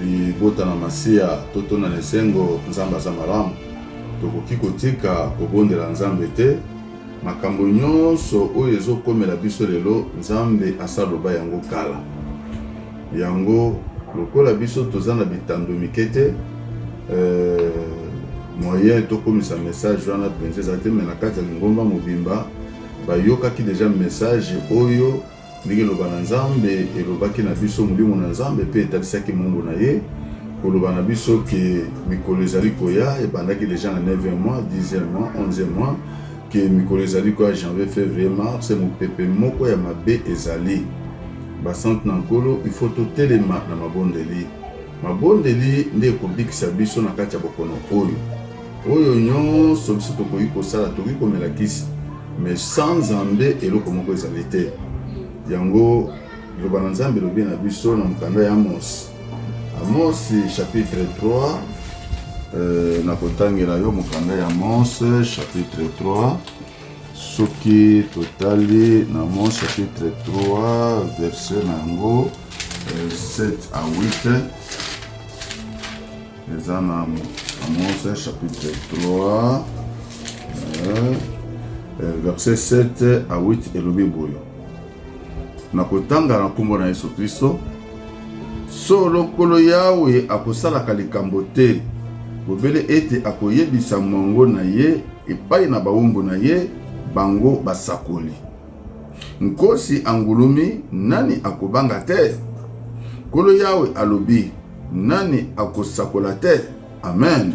libota na masiya totona na esengo nzambe aza malamu tokoki kotika kobondela nzambe te makambo nyonso oyo ezokomela biso lelo nzambe asaloba yango kala yango lokola biso toza na bitando mike te euh, moyen tokomisa message wana mpenza ezali te me na kati ya lingomba mobimba bayokaki deja message oyo Ndenge eloba na Nzambe elobaki na biso molimo na Nzambe mpe etalisaki mongo na ye koloba na biso ke mikolo ezali koya ebandaki deja na 9e mois 10e mois 11e mois ke mikolo ezali koya janvier février mars mopepe moko ya mabe ezali basante na nkolo ifo totelema na mabondeli mabondeli nde ekobikisa biso na kati ya bokono oyo Oyo nyonso biso tokoki kosala, tokoki komela kisi, mais sans Nzambe eloko moko ezali te. Yango liloba na Nzambe elobi na biso na mokanda ya Amos, Amos chapitre 3 euh, nakotangela yo mokanda ya Amos chapitre 3 soki totali na Amos chapitre 3 verset na yango 7 euh, à 8 eza na Amosa chapitre 3 eh, eh, verset 7 a 8 elobi boyo na kotanga na nkombo na Yesu Kristo, solo Nkolo Yawe akosalaka likambo te bobele ete akoyebisa mwango na ye epai na bawumbu na ye, bango basakoli. Nkosi angulumi, nani akobanga te? Nkolo Yawe alobi, nani akosakola te? Amen.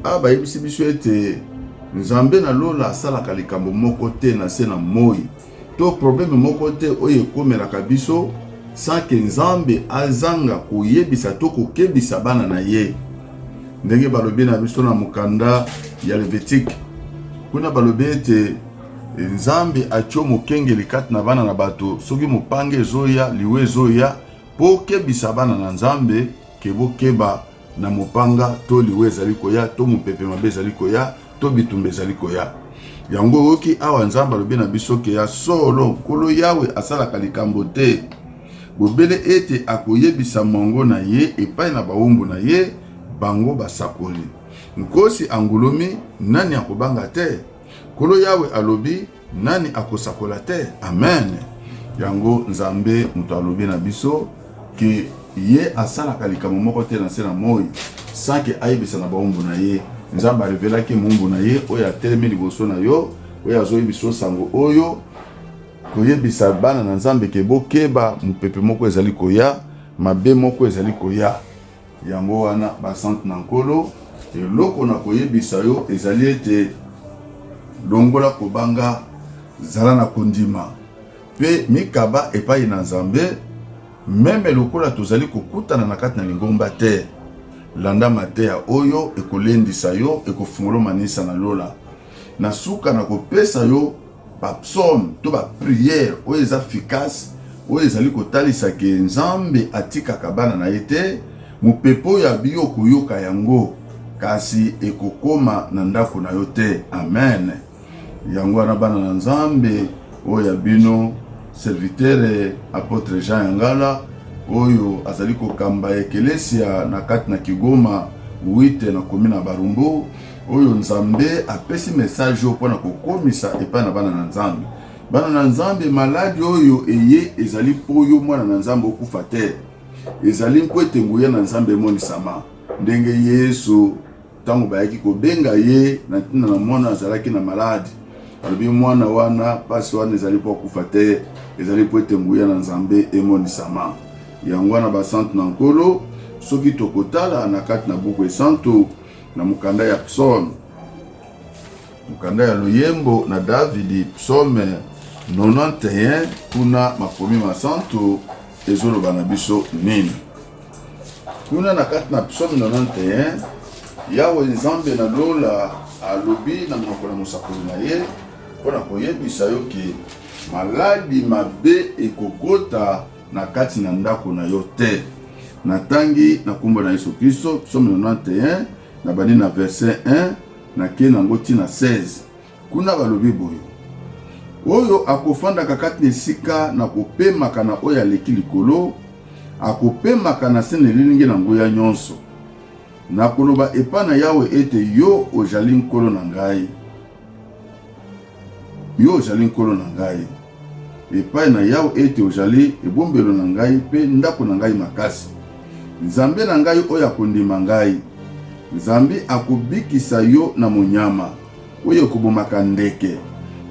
Awa bayebisi biso ete Nzambe na lola asalaka likambo moko te na se na moi to probleme moko te oyo ekomelaka biso sanke Nzambe azanga koyebisa to kokebisa bana na ye, ndenge balobi na biso na mokanda ya Levitike. Kuna balobi ete Nzambe atio mokengeli kati na bana na bato, soki mopanga ezoya, liwa ezoya, po okebisa bana na Nzambe ke bokeba na mopanga, to liwa ezali koya, to mopepe mabe ezali koya, to bitumba ezali koya. Yango oyoki awa Nzambe alobi na biso ke ya solo Nkolo Yawe asalaka likambo te bobele ete akoyebisa mwango na ye epai na bawumbu na ye, bango basakoli. Nkosi angulumi, nani akobanga te? Nkolo Yawe alobi, nani akosakola te? Amen. Yango Nzambe moto alobi na biso ke ye asalaka likambo moko te na nse na moi sake ayebisa na baumbu na ye. Nzambe arevelaki moumbu na ye oyo atelemi liboso na yo, oyo azoyebisa yo sango oyo, koyebisa bana na Nzambe ke bokeba, mopepe moko ezali koya, mabe moko ezali koya. Yango wana, basantu na Nkolo, eloko nakoyebisa yo ezali ete, Longola kobanga, zala na kondima mpe mikaba epai na Nzambe, meme lokola tozali kokutana na kati na lingomba te. Landa mateya oyo ekolendisa yo, ekofungola yo maninisa na lola. Na suka na kopesa yo ba psaumes to ba prières oyo eza efficace oyo ezali kotalisa ke Nzambe atikaka bana na ye te. Mopepe oyo ya biyo okoyoka yango kasi ekokoma na ndako na yo te. Amen. Yango wana bana na Nzambe oyo ya bino serviteur apotre Jean Yangala oyo azali kokamba ekelesia na kati na Kigoma wite na komi na Barumbu oyo nzambe apesi message oyo mpo na kokomisa epai na bana na nzambe bana na nzambe maladi oyo eye ezali mpo yo mwana na nzambe okufa te ezali mpo ete nguya na nzambe emonisama ndenge yesu ntango bayaki kobenga ye na ntina na mwana azalaki na maladi alobi mwana wana mpasi wana ezali mpo akufa te ezali mpo ete nguya na nzambe emonisama yango wana basante na nkolo soki tokotala na kati na buku esantu Na mokanda ya Psaume, mokanda ya loyembo na Davidi, Psaume 91, kuna makomi masantu ezoloba na biso nini? Kuna na kati na Psaume 91, Yawe Nzambe na lola alobi na monoko na mosakoli na ye mpo na koyebisa yo ke maladi mabe ekokota na kati na ndako na yo te. Natangi na nkombo na Yesu Kristo, psaume 91, na bandi na verset 1 nake na yango ntina 16. Kuna balobi boye, oyo akofandaka kati na esika na kopemaka na oyo aleki likolo, akopemaka na se na elilingi na nguya nyonso. Nakoloba epai na Yawe ete yo ojali nkolo na ngai. Yo ozali nkolo na ngai, epai na Yawe ete ozali ebombelo na ngai mpe ndako na ngai makasi. Nzambe na ngai oyo akondima ngai, Nzambe akobikisa yo na monyama oyo ekobomaka ndeke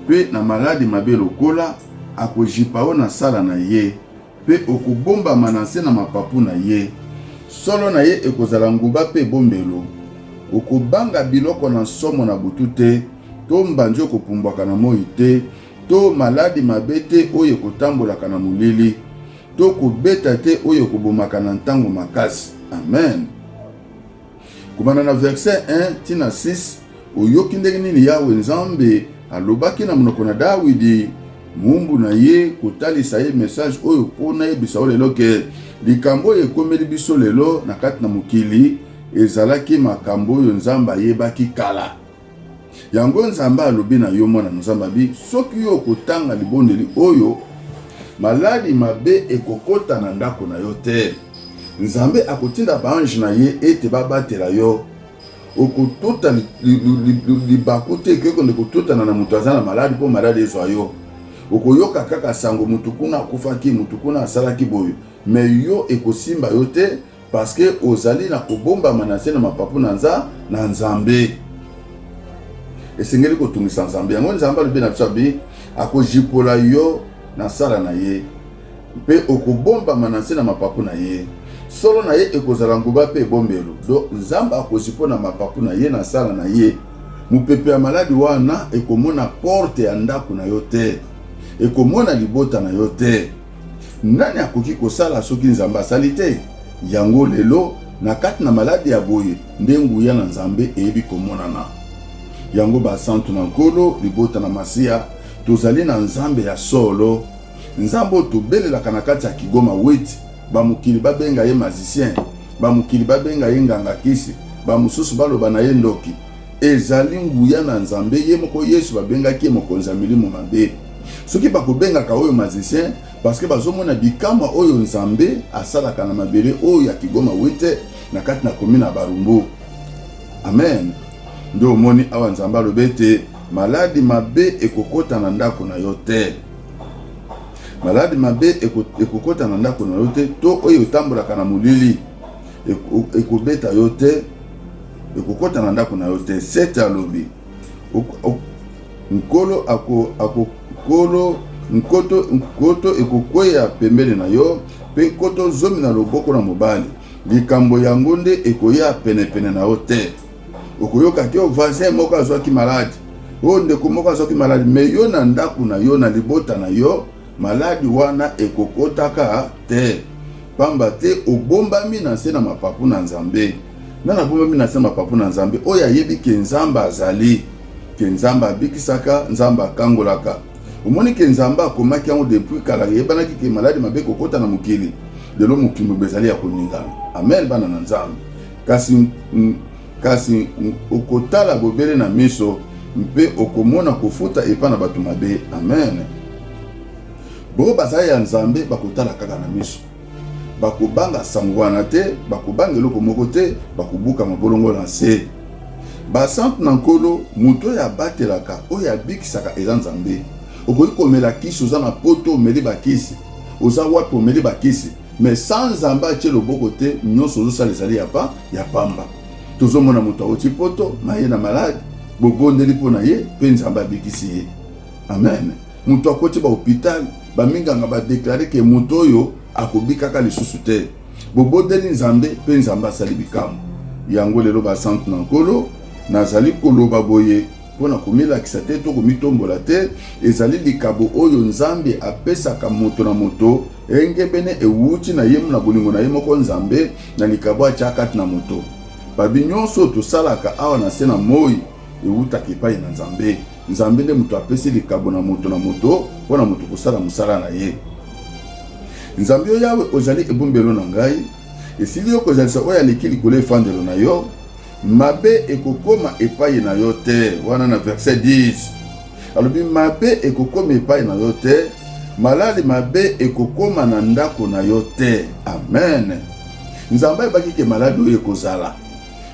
mpe na maladi mabe lokola, akojipa yo na nsala na ye Mpe okobombama na nse na mapapu na ye, solo na ye ekozala nguba mpe ebombelo. Okobanga biloko na nsomo na butu te, to mbanzi ekopumbwaka na moi te, to maladi mabe te oyo ekotambolaka na molili, to kobeta te oyo ekobomaka na ntango makasi. Amen. Kobanda na verse 1 ti na 6, oyoki ndenge nini Yawe Nzambe alobaki na monoko na Dawidi mumbu na ye kotalisa ye message oyo mpo nayebisa yo lelo ke likambo oyo ekomeli biso lelo na kati na mokili ezalaki makambo oyo Nzambe ayebaki kala. Yango Nzambe alobi na yo, mwana Nzambe abi, soki yo okotanga libondeli oyo, maladi mabe ekokota na ndako na yo te. Nzambe akotinda baange na ye ete babatela yo. Okotota libaku te ekoki konde kototana na moto aza na maladi mpo maladi ezwa yo. Okoyoka kaka sango motu kuna akufaki, motu kuna asalaki boye, me yo ekosimba yo te Parce que ozali na kobombama na se na mapapu na nza na Nzambe. Esengeli kotungisa Nzambe. Yango Nzambe alobi na biso abi akojipola yo na sala na ye mpe okobombama na nse na mapapu na ye solo na ye ekozala nguba mpe ebombelo do nzambe akozi mpo na mapapu na ye na nsala na ye mopepe ya maladi wana ekomona porte ya ndako na yo te ekomona libota na yo te Nani akoki kosala soki Nzambe asali te? Yango lelo, na kati na maladi ya boye, nde nguya na Nzambe eyebi komonana. Yango basantu na Nkolo, libota na Masiya, tozali na Nzambe ya solo, Nzambe oyo tobelelaka na kati ya Kigoma Weti, bamokili babenga ye mazisien, bamokili babenga ye nganga kisi, bamosusu baloba na ye ndoki. Ezali nguya na Nzambe ye moko Yesu babengaki ye mokonzi ya milimo mabe. Soki bakobengaka oyo magicien parce que bazomona bikamwa oyo Nzambe asalaka na mabele oyo ya Kigoma Wete na kati na commune ya Barumbu. Amen. Nde omoni awa Nzambe alobi ete maladi mabe ekokota na ndako na yo te. Maladi mabe ekokota na ndako na yo te to oyo otambolaka na molili. ekobeta yo te ekokota na ndako na yo te sete alobi nkolo ako, ako nkolo nkoto nkoto ekokweya pembeni na yo mpe nkoto zomi na loboko na mobali likambo yango nde ekoya penepene na yo te okoyoka te o voisin moko azwaki maladi o ndeko moko azwaki maladi me yo na ndako na yo na libota na yo Maladi wana ekokotaka te, pamba te obombami na nse na mapapu na Nzambe. Nani abombami na nse na mapapu na Nzambe? Oyo ayebi ke Nzambe azali, ke Nzambe abikisaka, Nzambe akangolaka. Omoni ke Nzambe akomaki yango depuis kala, eyebanaki ke maladi mabe ekokota na mokili. Lelo mokili mobimba ezali ya koningana. Amen, bana na Nzambe. Kasi Kasi okotala bobele na miso mpe okomona kofuta epai na bato mabe. Amen. Bo baza ya Nzambe bakotala kaka na miso, bakobanga sango wana te, bakobanga eloko moko te, bakobuka mabolongo na nse. Basantu na Nkolo, moto oyo abatelaka, oyo abikisaka eza Nzambe. Okoki komela kisi, oza na poto omeli bakisi, oza wapi omeli bakisi, Mais sans Nzambe atie loboko te, nyonso ozosala ezali ya pa ya pamba. Tozomona moto awuti poto na ye na malade, bobondeli mpo na ye mpe Nzambe abikisi ye. Amen. Moto akoti ba hopital, baminganga badeklare ke moto oyo akobikaka lisusu te. Bobondeli Nzambe mpe Nzambe asali bikamwa. Yango lelo basantu na Nkolo, nazali koloba boye, Mpo na komilakisa te to komitombola te, ezali likabo oyo Nzambe apesaka moto na moto engebene ewuti na ye na bolingo na ye moko Nzambe na likabo atya kati na moto. Babi nyonso oyo tosalaka awa na se na moi ewutaka epai na Nzambe. Nzambe nde moto apesi likabo na moto na moto mpo na moto kosala mosala na ye. Nzambe yo Yawe, ozali ebombelo na ngai, esili yo kozalisa oyo aleki likolo efandelo na yo. Mabe ekokoma epai na yo te, wana na verset 10 alobi mabe ekokoma epai na yo te, malali mabe ekokoma na ndako na yo te. Amen. Nzambe ayebaki ke maladi oyo ekozala,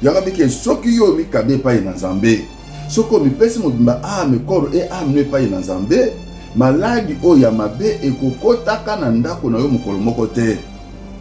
yango abiki soki yo omikabi epai na Nzambe, soki omipesi mobimba ame koro e ame epai na Nzambe maladi oyo ya mabe ekokotaka na ndako na yo mokolo moko te.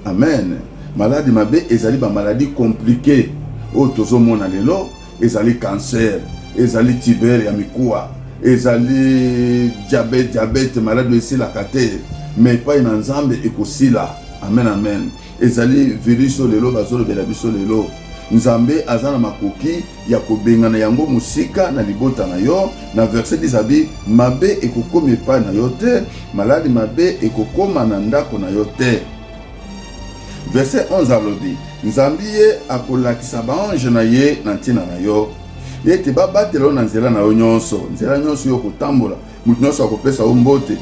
Amen. Maladi mabe ezali ba maladi complique oyo tozomona lelo, ezali cancer, ezali tibere ya mikuwa, ezali diabete, diabete maladi esilaka te, me epai na Nzambe ekosila. Amen, amen. Ezali virus oyo lelo bazolobela biso lelo, Nzambe aza na makoki ya kobengana yango mosika na libota na yo na verse 10 abi mabe ekokoma epai na yo te maladi mabe ekokoma na ndako na yo te verse 11 alobi nzambe ye akolakisa baange na ye na ntina na yo ete babatela yo na nzela na yo nyonso nzela nyonso yo kotambola Moto nyonso akopesa yo mbote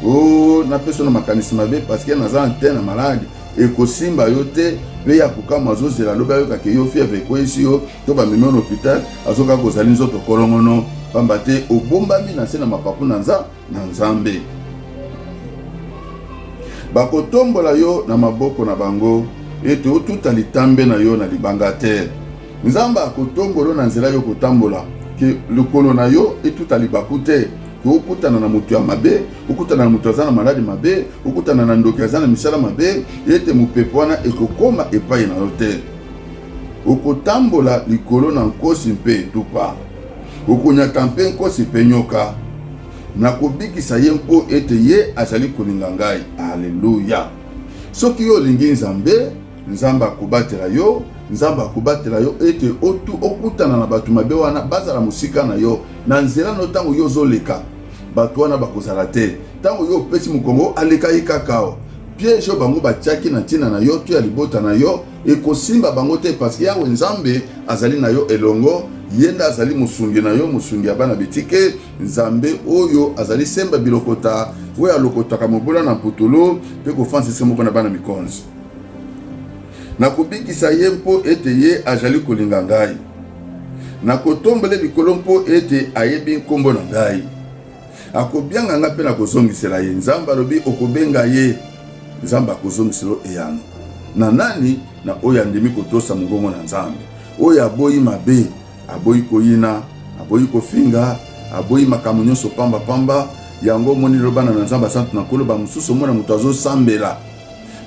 o oh, napesa na makanisi mabe parceke naza antene maladi ekosimba yo te mpe ya kokama azozela alobi ayokaka yo fièvre ekweyisi yo to bamemi na hôpital azokaka kozali nzoto kolongono mpamba te obombami na nse na mapapu na nza na nzambe bakotombola yo na maboko na bango ete otuta litambe na yo na libanga te Nzambe akotombolo na nzela yo kotambola ke lokolo na yo etuta libaku te ke okutana na moto ya mabe okutana na moto aza na maladi mabe okutana na ndoki aza na misala mabe ete mopepe wana ekokoma epai na yo te okotambola likolo na nkosi mpe etupa okonyata mpe nkosi mpe nyoka nakobikisa ye mpo ete ye azali kolinga ngai aleluya soki yo olingi nzambe nzambe akobatela yo nzambe akobatela yo ete otu okutana na bato mabe wana bazala mosika na yo na nzela na yo ntango yo ozoleka bato wana bakozala te ntango yo opesi mokongo aleka ye kaka o piège oyo bango batiaki na ntina na yo to ya libota na yo ekosimba bango te parceke yawe nzambe azali na yo elongo ye nde azali mosungi na yo mosungi ya bana bitike nzambe oyo azali semba bilokota oyo alokotaka mobola na mputulu mpe kofansisa moko na bana mikonzi Nakobikisa ye mpo ete ye ajali kolinga ngai. Nakotombele likolo mpo ete ayebi nkombo na ngai. Akobianga ngai mpe nakozongisela ye. Nzambe alobi, okobenga ye. Nzambe akozongisela eyano. Na nani? Na oyo andimi kotosa mongongo na Nzambe. Oyo aboyi mabe, aboyi koyina, aboyi kofinga, aboyi makambo nyonso pamba pamba. Yango omoni lobana na Nzambe asantu na Nkolo, bamosusu omona moto azosambela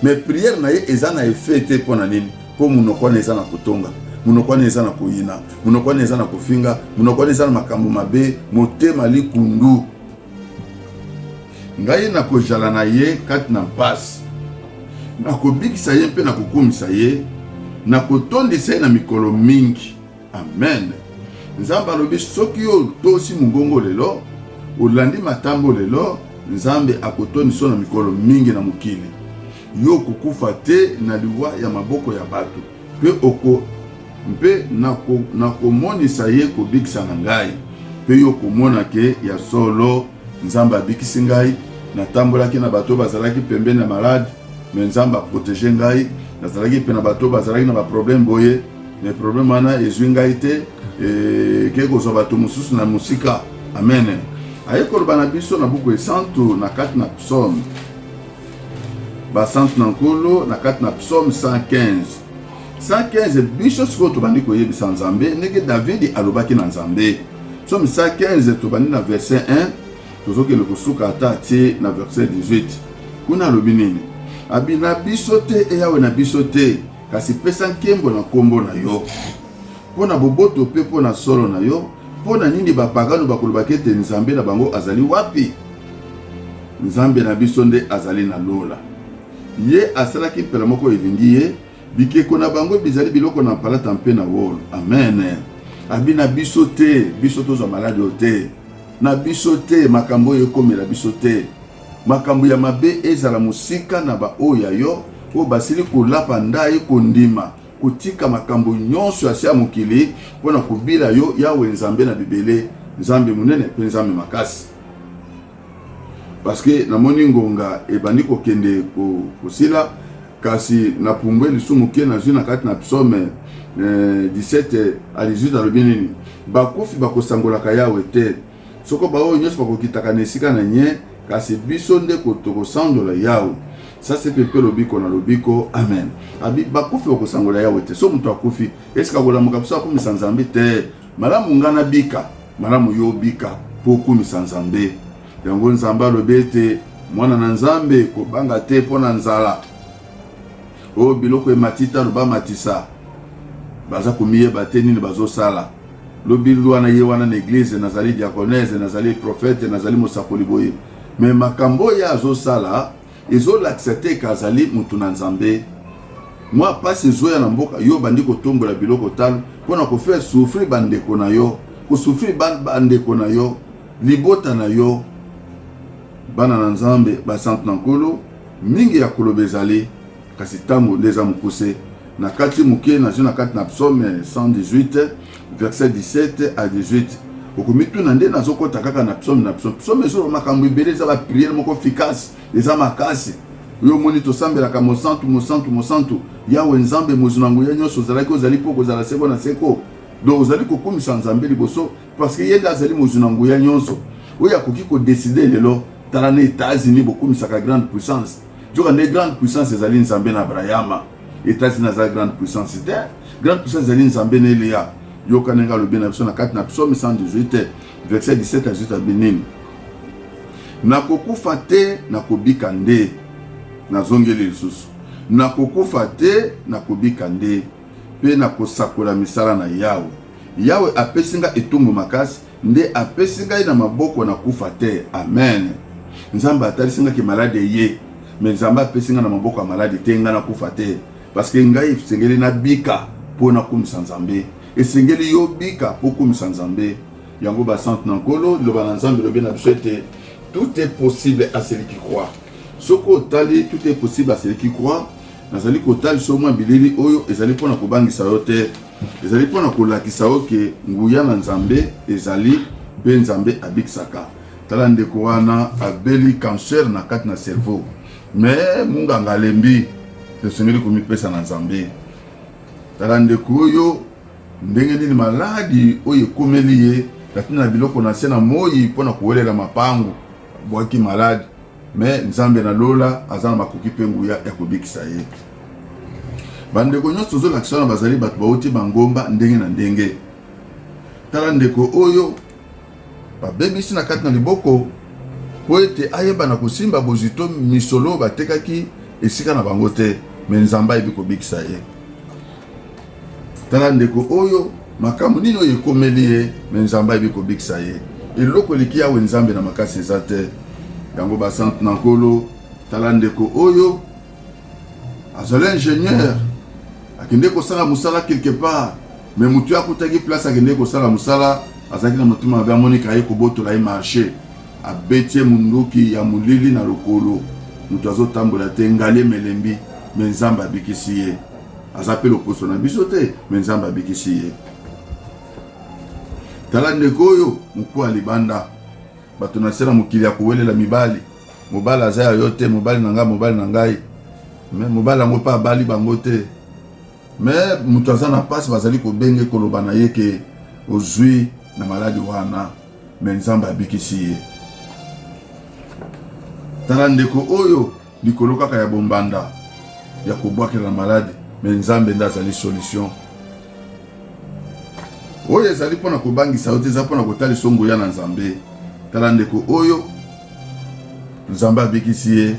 mais prière na ye eza na effet te mpo na nini mpo monoko wana eza na kotonga monoko wana eza na koyina monoko wana eza na kofinga monoko wana eza na makambo mabe motema likundu ngai nakozala na ye kati na mpasi nakobikisa ye mpe nakokumisa ye nakotondisa ye na mikolo mingi Amen. Nzambe alobi soki yo otosi mongongo lelo, olandi matambo lelo, Nzambe akotoniso na mikolo mingi na mokili. Yo okokufa te na liwa ya maboko ya bato, mpe oko mpe nakomonisa ye kobikisa na ngai, mpe yo okomona ke ya solo Nzambe abikisi ngai. Natambolaki na bato bazalaki pembeni ya malade, me Nzambe aprotege ngai. Nazalaki mpe na bato bazalaki na baprobleme boye mais problème wana ezwi ngai te ekei kozwa bato mosusu na mosika amen aye koloba na biso na buku esantu na kati na psaume basantu na nkolo na kati na psaume 115 115 biso sikoyo tobandi koyebisa nzambe ndenge davidi alobaki na nzambe psaume 115 tobandi na verset 1 tozokende kosuka ata ti na verset 18 kuna alobi nini abi na biso te eyawe na biso te Kasi pesa nkembo na nkombo na yo mpo na boboto mpe mpo na solo na yo. Mpo na nini bapagano bakolobaka ete Nzambe na bango azali wapi? Nzambe na biso nde azali na lola. Ye asalaki mpela moko elingi ye, bikeko na bango bizali biloko na palata mpe na wolo. Amen. Abi na biso te, biso tozwa maladi oyo te, na biso te, makambo oyo ekomela biso te. Makambo ya mabe ezala mosika na baoyo ya yo oyo basili kolapa ndai kondima kotika makambo nyonso ya se ya mokili mpo na kobila yo, Yawe Nzambe na bibele, Nzambe monene mpe Nzambe makasi. Paske namoni ngonga ebandi kokende kosila ko kasi na pumbwe lisumu ke nazwi na kati na psaume eh, 17 eh, alizwi alobi nini bakufi bakosangolaka yawe te Soko baoyo nyonso bakokitaka na esika na nye, kasi biso nde tokosanzola Yawe sase mpe mpe lobiko na lobiko. Amen. Abi bakufi bakosangola Yawe te. So moto akufi, esika kolamuka biso akumisa Nzambe te. Malamu nga nabika, malamu yo obika mpo okumisa Nzambe. Yango Nzambe alobi ete mwana na Nzambe, kobanga te mpo na nzala oyo biloko ematita loba matisa baza komiyeba te nini bazosala Lobi loi na ye wana na eglise nazali diaconese nazali prophète nazali mosakoli boye mais makambo oyo azosala ezolakisa te ke azali motu na nzambe mwa mpasi ezoya na mboka yo obandi kotombola biloko talo mpo na kofaire souffrir bandeko na yo kosouffrir bandeko na yo libota na yo bana na nzambe basantu na nkolo mingi ya koloba ezali kasi ntango nde eza mokuse na kati moke nazwi na kati na psaume 118 verset 17 à 18 okomituna nde nazokɔta kaka na psaume na psaume psaume ezoloba makambo ebele eza bapriere moko efficace eza makasi yo omoni tosambelaka mosantu mosantu mosantu yawe nzambe mozwi na nguya nyonso ozalaki ozali mpo kozala seko na seko donc ozali kokumisa nzambe liboso parce que ye nde azali mozwi na nguya nyonso oyo akoki kodeside lelo tala na états-unis bokumisaka grande puissance Joka nde grande puissance ezali Nzambe na Abrahama. Etats-Unis azali grande puissance te. Grande puissance ezali Nzambe na Eliya. Yoka ndenge alobi na biso na kati na psaume 118 verset 17 à 18 alobi nini? Nakokufa te, nakobika nde. Nazongeli lisusu. Nakokufa te, nakobika nde. Mpe nakosakola misala na Yawe. Yawe apesi nga etumbu makasi, Nde apesi ngai na maboko na kufa te. Amen. Nzambe atalisi ngai ke malade eye, me Nzambe apesi ngai na maboko ya malade te, ngai na kufa te. Parce que ngai esengeli na bika mpo na kumisa Nzambe. Esengeli yo bika mpo kumisa Nzambe. Yango ba centre na Nkolo, liloba na Nzambe lobi na biso ete tout est possible à celui qui croit. Soki otali tout est possible à celui qui croit, nazali kotalisa yo mwa bilili oyo ezali mpo na kobangisa yo te Ezali mpo na kolakisa yo ke nguya na Nzambe ezali mpe Nzambe abikisaka. Tala ndeko wana abeli cancer na kati na cerveau, me munganga alembi, tosengeli komipesa na Nzambe. Tala ndeko oyo ndenge nini maladi oyo ekomeli ye na ntina na biloko na se na moi mpo na kowelela mapango bwaki maladi me nzambe na lola aza na makoki mpe nguya ya kobikisa ye bandeko nyonso tozolakisa wana bazali bato bauti bangomba ndenge na ndenge tala ndeko oyo babebisi na kati na liboko mpo ete ayeba na kosimba bozwi to misolo batekaki esika na bango te me nzambe ayebi kobikisa ye Tala ndeko oyo makambo nini oyo ekomeli ye me nzambe ayebi kobikisa ye eloko eleki yawe nzambe na makasi eza te yango basante na nkolo tala ndeko oyo azali ingénieur akende kosala mosala quelque part me motu akutaki place akende kosala mosala azalaki na motema mabe amoniki aye kobotola ye marché abeti ye monduki ya molili na lokolo moto azotambola te ngali emelembi me nzambe abikisi ye aza mpe loposo na biso te me nzambe abikisi ye tala ndeko oyo mokuwa ya libanda bato na se na mokili ya kowelela mibali mobali aza ya yo te mobali na ngai mobali na ngai me mobali yango mpe abali bango te me moto aza na mpasi bazali kobenge koloba na ye ke ozwi na maladi wana me nzambe abikisi ye tala ndeko oyo Likolo kaka ya bombanda ya kobwakela na maladi, me Nzambe nde azali solution oyo ezali mpo na kobangisa yo te, eza mpo na kotalisa nguya na Nzambe. Tala ndeko oyo Nzambe abikisi ye,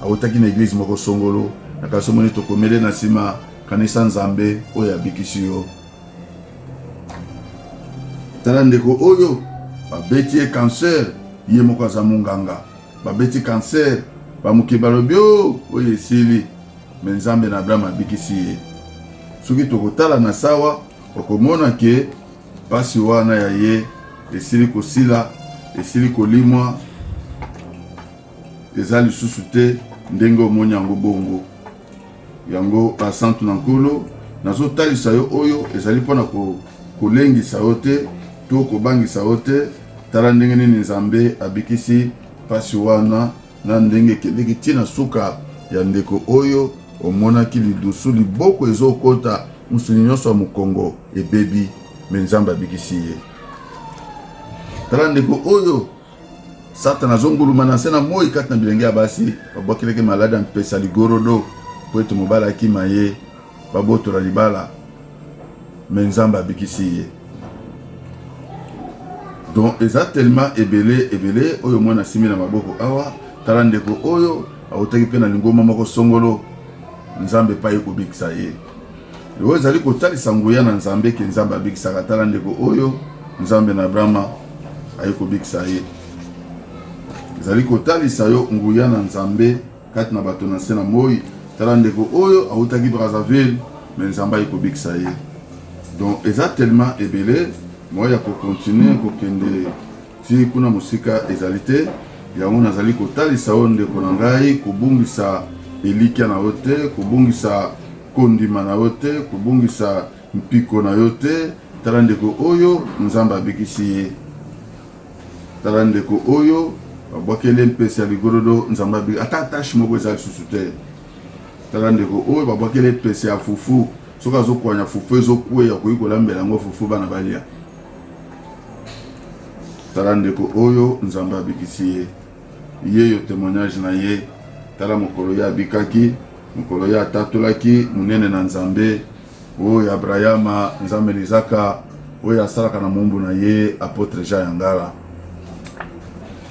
awutaki na eglize moko songolo, na kasi omoni tokomele na nsima, kanisa Nzambe oyo abikisi yo. Tala ndeko oyo babeti ye cancer, ye moko aza munganga Babeti cancer, bamoke balobi o oh, oyo esili, me Nzambe na Abraham abikisi ye. Soki tokotala na sawa, okomona ke mpasi wana ya ye esili kosila, esili kolimwa, eza lisusu te ndenge omoni yango bongo. Yango basantu na Nkolo, nazotalisa yo oyo ezali mpo na kolengisa yo te to kobangisa yo te. Tala ndenge nini Nzambe abikisi mpasi wana na ndenge ekendeki ti na suka ya ndeko oyo omonaki lidusu liboko ezokota mosuni nyonso ya mokongo ebebi me nzambe abikisi ye tala ndeko oyo Satana azonguluma na nse na moi kati na bilenge ya basi babwakeleke maladi ya mpesa ligorodo mpo ete mobali akima ye babotola libala me nzambe abikisi ye donc eza telema ebele ebele oyo mwana asimi na maboko awa tala ndeko oyo autaki mpe na lingoma moko songolo nzambe epai ekobikisa ye Oyo ezali kotalisa nguya na Nzambe ke Nzambe abikisaka. Tala ndeko oyo Nzambe na Abrahama aye kobikisa ye. Ezali kotalisa yo nguya na Nzambe kati na bato na nse na moi. Tala ndeko oyo awutaki Brazzaville me Nzambe aye kobikisa ye. Donc eza tellement ebele moyen ya kocontinue kokende Tii kuna mosika ezali te, yango nazali kotalisa yo ndeko na ngai, kobungisa elikya na yo te, kobungisa kondima na yo te, kobungisa mpiko na yo te. Tala ndeko oyo, Nzambe abikisi ye. Tala ndeko oyo babwakeli mpese ya ligorodo nzambe abi ata tache moko eza lisusu te tala ndeko oyo babwakeli mpese ya fufu soki azokwanya fufu ezokweya okoki kolambela yango fufu bana balia tala ndeko oyo nzambe abikisi ye ye yo témoignage na ye tala mokolo ye abikaki mokolo ye atatolaki monene na nzambe oyo ya abrahama nzambe lizaka oyo asalaka na mombu na ye apotre jean ya ngala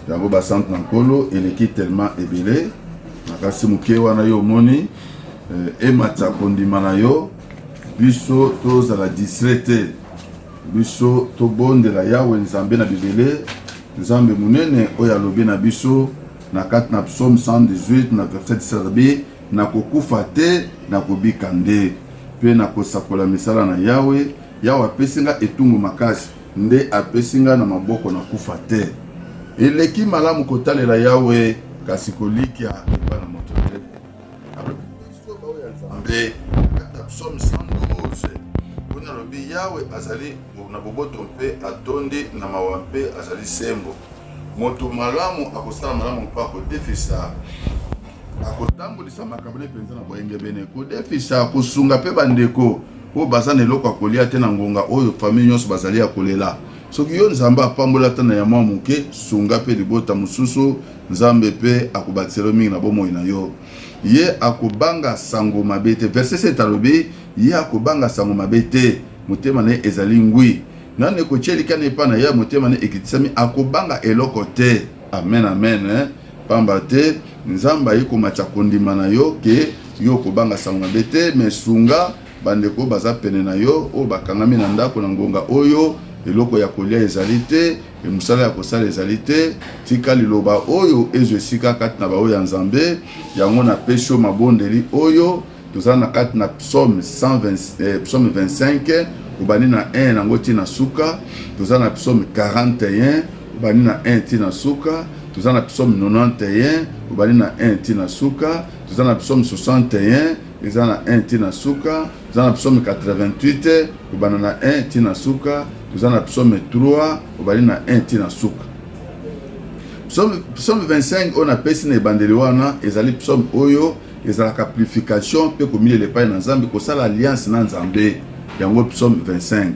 yango basantu na nkolo eleki telema ebele na kasi moke wana yo omoni eh, ematisa kondima na yo Biso tozala distrait te, biso tobondela Yawe Nzambe na Bibele, Nzambe monene oyo alobi na biso na kati na psaume 118 na verset 17 na kokufa te na kobika nde mpe na kosakola misala na Yawe. Yawe apesi nga etumbu makasi, nde apesi nga na maboko na kufa te. Eleki malamu kotalela Yawe kasi kolikia nzambe kata psaume 112 mpona alobi yawe azali na boboto mpe atondi na mawa mpe azali sembo moto malamu akosala malamu mpe akodefisa akotambolisa makambo ne mpenza na boyengebene kodefisa kosunga mpe bandeko oyo baza na eloko ya kolia te na ngonga oyo famille nyonso bazali ya kolela soki yo nzambe apambola ata na ya mwa moke sunga mpe libota mosusu Nzambe pe akobakisela yo mingi na bomoi na yo. Ye akobanga sango mabe te. Verse 7 alobi, Ye akobanga sango mabe te, motema na ye ezali ngwi. Nani ekotia elikya na ye epai na Yawe, motema na ye ekitisami, akobanga eloko te. Amen, amen. Pamba te, Nzambe ayei komatisa kondima na yo ke yo okobanga sango mabe te. Mais sunga bandeko oyo baza pene na yo, oyo bakangami na ndako na ngonga oyo eloko ya kolia ezali te. Mpe mosala ya kosala ezali te, tika liloba oyo ezwa esika kati na baoyo ya Nzambe. Yango napesi yo mabondeli oyo, tozali na kati na psaume 120, eh, psaume 25 obandi na 1 yango ti na suka, toza na psaume 41 obandi na 1 ti na suka, toza na psaume 91 obandi na 1 ti na suka, toza na psaume 61 eza na 1 ti na suka, toza na psaume 88 kobanda na 1 ti na suka toza na psaume 3 obandi na 1 ti na suka psaume 25 oyo napesi na ebandeli wana ezali psaume oyo ezalaka purification mpe komilela epai na nzambe kosala alliance na nzambe yango psaume 25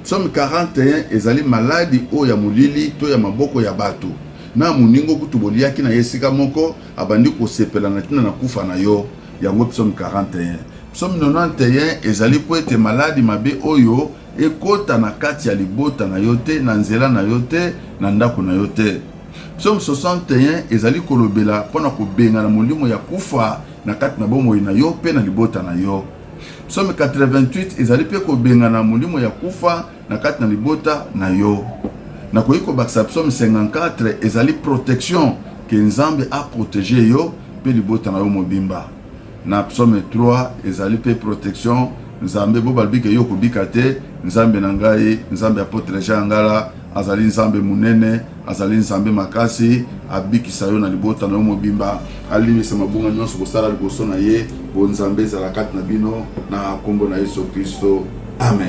psaume 41 ezali maladi oyo ya molili to ya maboko ya bato na moningo kutu boliaki na ye esika moko abandi kosepela na ntina na kufa na yo Yango psaume 41. Psaume 91 ezali mpo ete maladi mabe oyo ekota na kati ya libota na yo te, na nzela na yo te, na ndako na yo te. Psaume 61 ezali kolobela mpo na kobengana molimo ya kufa na kati na bomoi na yo mpe na libota na yo. Psaume 88 ezali mpe kobengana molimo ya kufa na kati na libota na yo. Nakoki kobakisa psaume 54 ezali protection ke Nzambe a proteger yo pe libota na yo mobimba. Na psaume 3 ezali pe protection Nzambe bo balbi ke yo kobika te, Nzambe na ngai, Nzambe apotre Jean Ngala azali Nzambe munene. Azali Nzambe makasi, abikisa yo na libota na yo mobimba, alimbisa mabunga nyonso kosala liboso na ye. Bonzambe ezala kati na bino na nkombo na Yesu Kristo, amen.